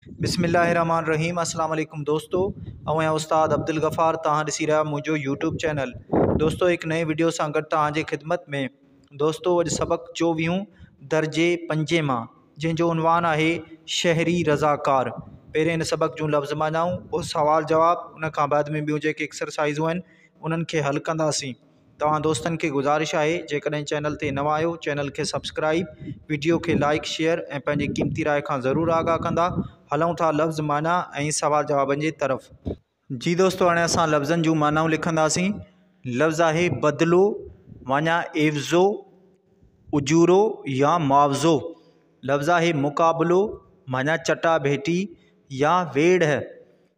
بسم الله الرحمن الرحيم السلام عليڪم دوستو اوهين استاد عبدالغفار توهان ڏسي رهيا منهنجو يوٽيوب چينل دوستو هڪ نئين وڊيو سان گڏ توهان جي خدمت ۾ دوستو اڄ سبق چوويهون درجي پنجين مان جنهن جو عنوان آهي شهري رضاڪار پهرين هن سبق جون لفظ معنائون پوء سوال جواب ان کان بعد ۾ ٻيون جيڪي اڪسرسائزون آهن انهن کي حل ڪنداسين توهان دوستن کي گذارش آهي جيڪڏهن چينل تي نوان آهيو چينل کي سبسڪرائيب وڊيو کي لائيڪ شيئر ۽ پنهنجي قيمتي راء کان ضرور آگاهه ڪندا هلون ٿا لفظ معنيٰ ۽ سوال جوابن جي طرف جي دوستو هاڻي اسان لفظن جون معنائون لکنداسين لفظ آهي بدلو معنيٰ عيوضو اجورو يا معاوضو لفظ آهي مقابلو معنيٰ چٽا ڀيٽي يا ويڙهه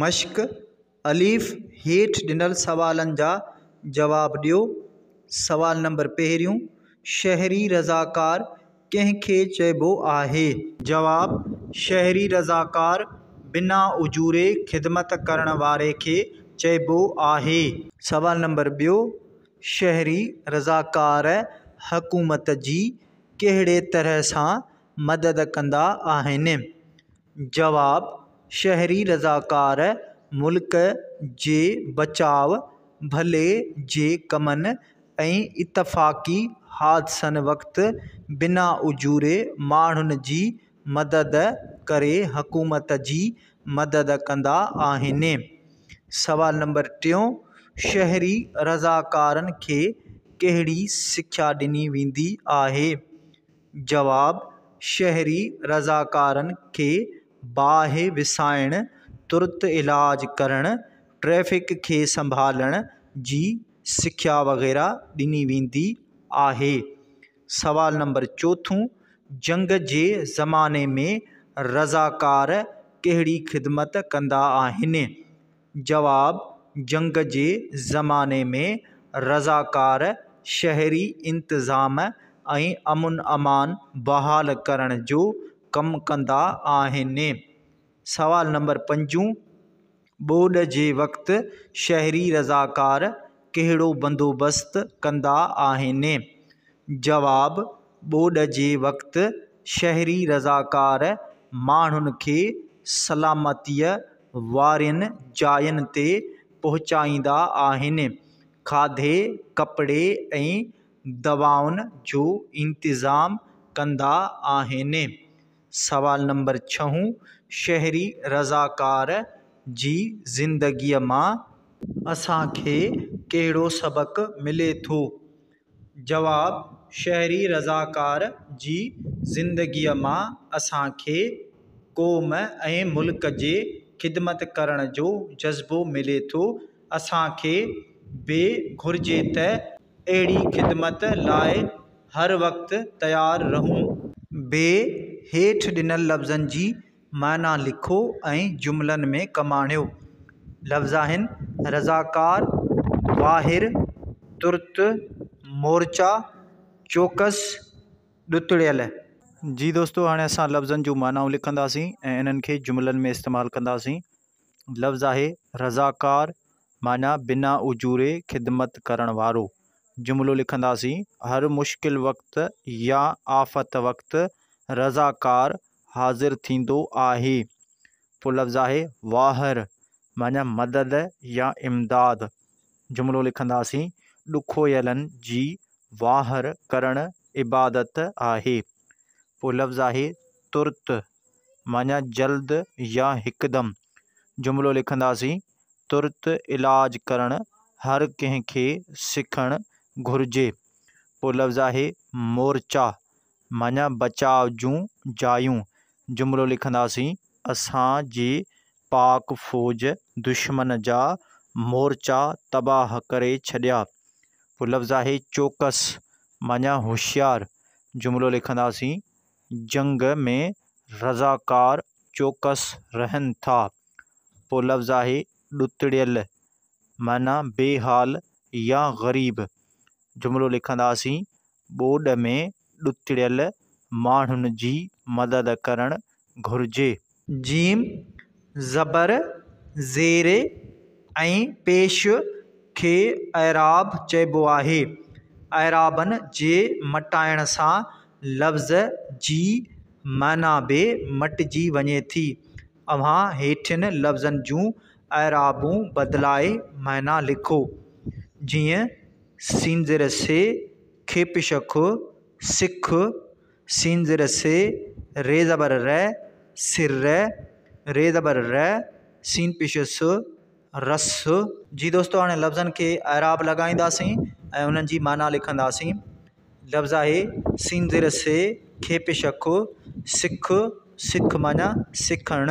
مشق، الف، هيٺ ڏنل سوالن جا جواب ڏيو. سوال نمبر پهريون، شهري رضاڪار ڪنهن کي چئبو آهي؟ جواب، شهري رضاڪار بنا اجوري خدمت ڪرڻ واري کي چئبو آهي. سوال نمبر ٻيو، شهري رضاڪار حڪومت جي ڪهڙي طرح سان مدد ڪندا آهن؟ جواب، شهري رضاڪار ملڪ جي بچاء ڀلي جي ڪمن ۽ اتفاقي حادثن وقت بنا اجوري ماڻهن جي مدد ڪري حڪومت جي مدد ڪندا آهن. سوال نمبر ٽيون، شهري رضاڪارن کي ڪهڙي سکيا ڏني ويندي آهي؟ جواب، شهري رضاڪارن کي باهه وسائڻ، ترت علاج ڪرڻ، ٽريفڪ کي سنڀالڻ جي سکيا وغيره ڏني ويندي آهي. سوال نمبر چوٿون، جنگ جي زماني ۾ رضاڪار ڪهڙي خدمت ڪندا آهن؟ جواب، جنگ جي زماني ۾ رضاڪار شهري انتظام ۽ امن امان بحال ڪرڻ جو ڪم ڪندا آهن. سوال نمبر پنجون، ٻوڏ جي وقت شهري رضاڪار ڪهڙو بندوبست ڪندا آهن؟ جواب، ٻوڏ جي وقت شهري رضاڪار ماڻهن کي سلامتيء وارين جاين تي پهچائيندا آهن، کاڌي، ڪپڙي ۽ دوائن جو انتظام ڪندا آهن. سوال نمبر ڇهون، شهري رضاڪار جي زندگيء مان اسان کي ڪهڙو سبق ملي ٿو؟ جواب، شهري رضاڪار جي زندگيء مان اسان کي قوم ۽ ملڪ جي خدمت ڪرڻ جو جذبو ملي ٿو. اسان کي به گهرجي ته اهڙي خدمت لاء هر وقت تيار رهون. بي هيٺ ڏنل لفظن جي معنيٰ لکو ۽ جملن ۾ ڪماڻيو. لفظ آهن، رضاڪار، واهر، ترت، مورچا، چوڪس، ڏتڙيل. جي دوستو هاڻي اسان لفظن جون معنائون لکنداسين ۽ انهن کي جملن ۾ استعمال ڪنداسين. لفظ آهي، رضاڪار، معنيٰ بنا اجوري خدمت ڪرڻ وارو. جملو لکنداسين، هر مشڪل وقت يا آفت وقت رضاڪار حاضر ٿيندو آهي. پوء لفظ آهي واهر معنيٰ مدد يا امداد. جملو لکنداسين، ڏکويلن جي واهر ڪرڻ عبادت آهي. پوء لفظ آهي ترت معنيٰ جلد يا هڪدم. جملو لکنداسين، ترت علاج ڪرڻ هر ڪنهن کي سکڻ گهرجي. پوء لفظ آهي مورچا منهن بچاء جون جايون جملو لکنداسين اسان جي پاڪ فوج دشمن جا مورچا تباھ ڪري ڇڏيا پوء لفظ آهي چوڪس منهن هوشيار جملو لکنداسين جنگ ۾ رضاڪار چوڪس رهن ٿا پوء لفظ آهي ڏتڙيل منهن بي حال يا غريب جملو لکنداسين ٻوڏ ۾ ڏتڙيل ماڻهن جي مدد ڪرڻ گهرجي. ج زبر زير ۽ پيش کي اعراب چئبو آهي. اعرابن جي مٽائڻ سان لفظ جي معنيٰ به مٽجي وڃي ٿي. اوهان هيٺين لفظن جون اعرابون بدلائي معنيٰ لکو، جيئن، سينزر سي کيپ شخ، سک، سينزر سي ري زبر رئ، سر رئ، ري زبر رئ، سين پيش س، رس. جي دوستو هاڻي لفظن کي اعراب لڳائينداسين ۽ انهن جي معنيٰ لکنداسين. لفظ آهي، سينزر سي کيپ شخ، سک، سک معنيٰ سکڻ.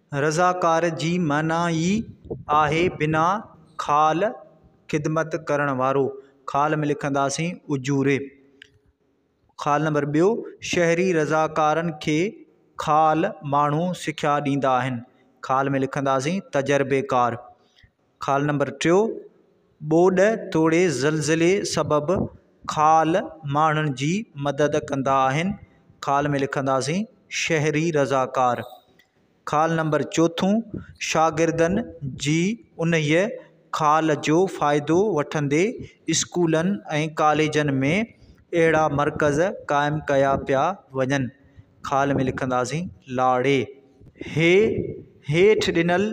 رضاڪار جي معنيٰ ئي آهي بنا خال خدمت ڪرڻ وارو خال ۾ لکنداسين اجوري خال نمبر ٻيو شهري رضاڪارن کي خال ماڻهو سکيا ڏيندا آهن خال ۾ لکنداسين تجربيڪار خال نمبر ٽيو، ٻوڏ توڙي زلزلي سبب خال ماڻهن جي مدد ڪندا آهن، خال ۾ لکنداسين شهري رضاڪار. خال نمبر چوٿون، شاگردن جي انهيء خال جو فائدو وٺندي اسڪولن ۽ ڪاليجن ۾ اهڙا مرڪز قائم ڪيا پيا وڃن. خال ۾ لکنداسين لاڙي. هي هيٺ ڏنل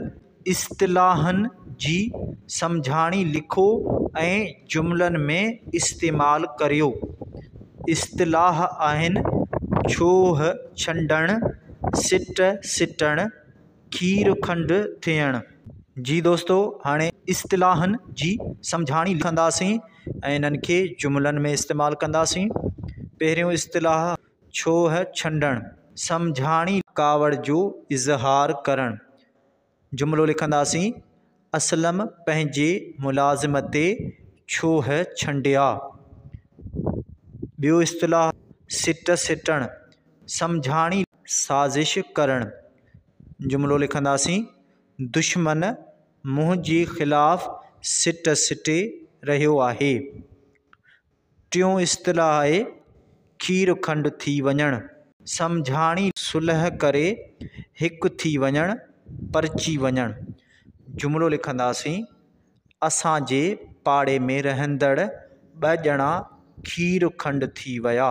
اصطلاحن جي سمجهاڻي لکو ۽ جملن ۾ استعمال ڪريو. اصطلاح آهن، ڇوهه ڇنڊڻ، سٽ سٽڻ، کير کنڊ ٿيڻ. جي دوستو هاڻي اصطلاحن جي سمجهاڻي لکنداسين ۽ انهن کي جملن ۾ استعمال ڪنداسين. پهريون اصطلاح. ڇوهه ڇنڊڻ. سمجهاڻي، ڪاوڙ جو اظهار ڪرڻ. جملو لکنداسين، اسلم پنهنجي ملازم تي ڇوهه ڇنڊيا. ٻيو اصطلاح، سٽ سٽڻ. سمجهاڻي، سازش ڪرڻ. جملو لکنداسين، دشمن منهنجي خلاف سٽ سٽي رهيو آهي. ٽيون اصطلاح آهي کير کنڊ ٿي وڃڻ. سمجهاڻي، صلح ڪري هڪ ٿي وڃڻ، پرچي وڃڻ. جملو لکنداسين، اسان جي پاڙي ۾ رهندڙ ٻه ڄڻا کير کنڊ ٿي ويا.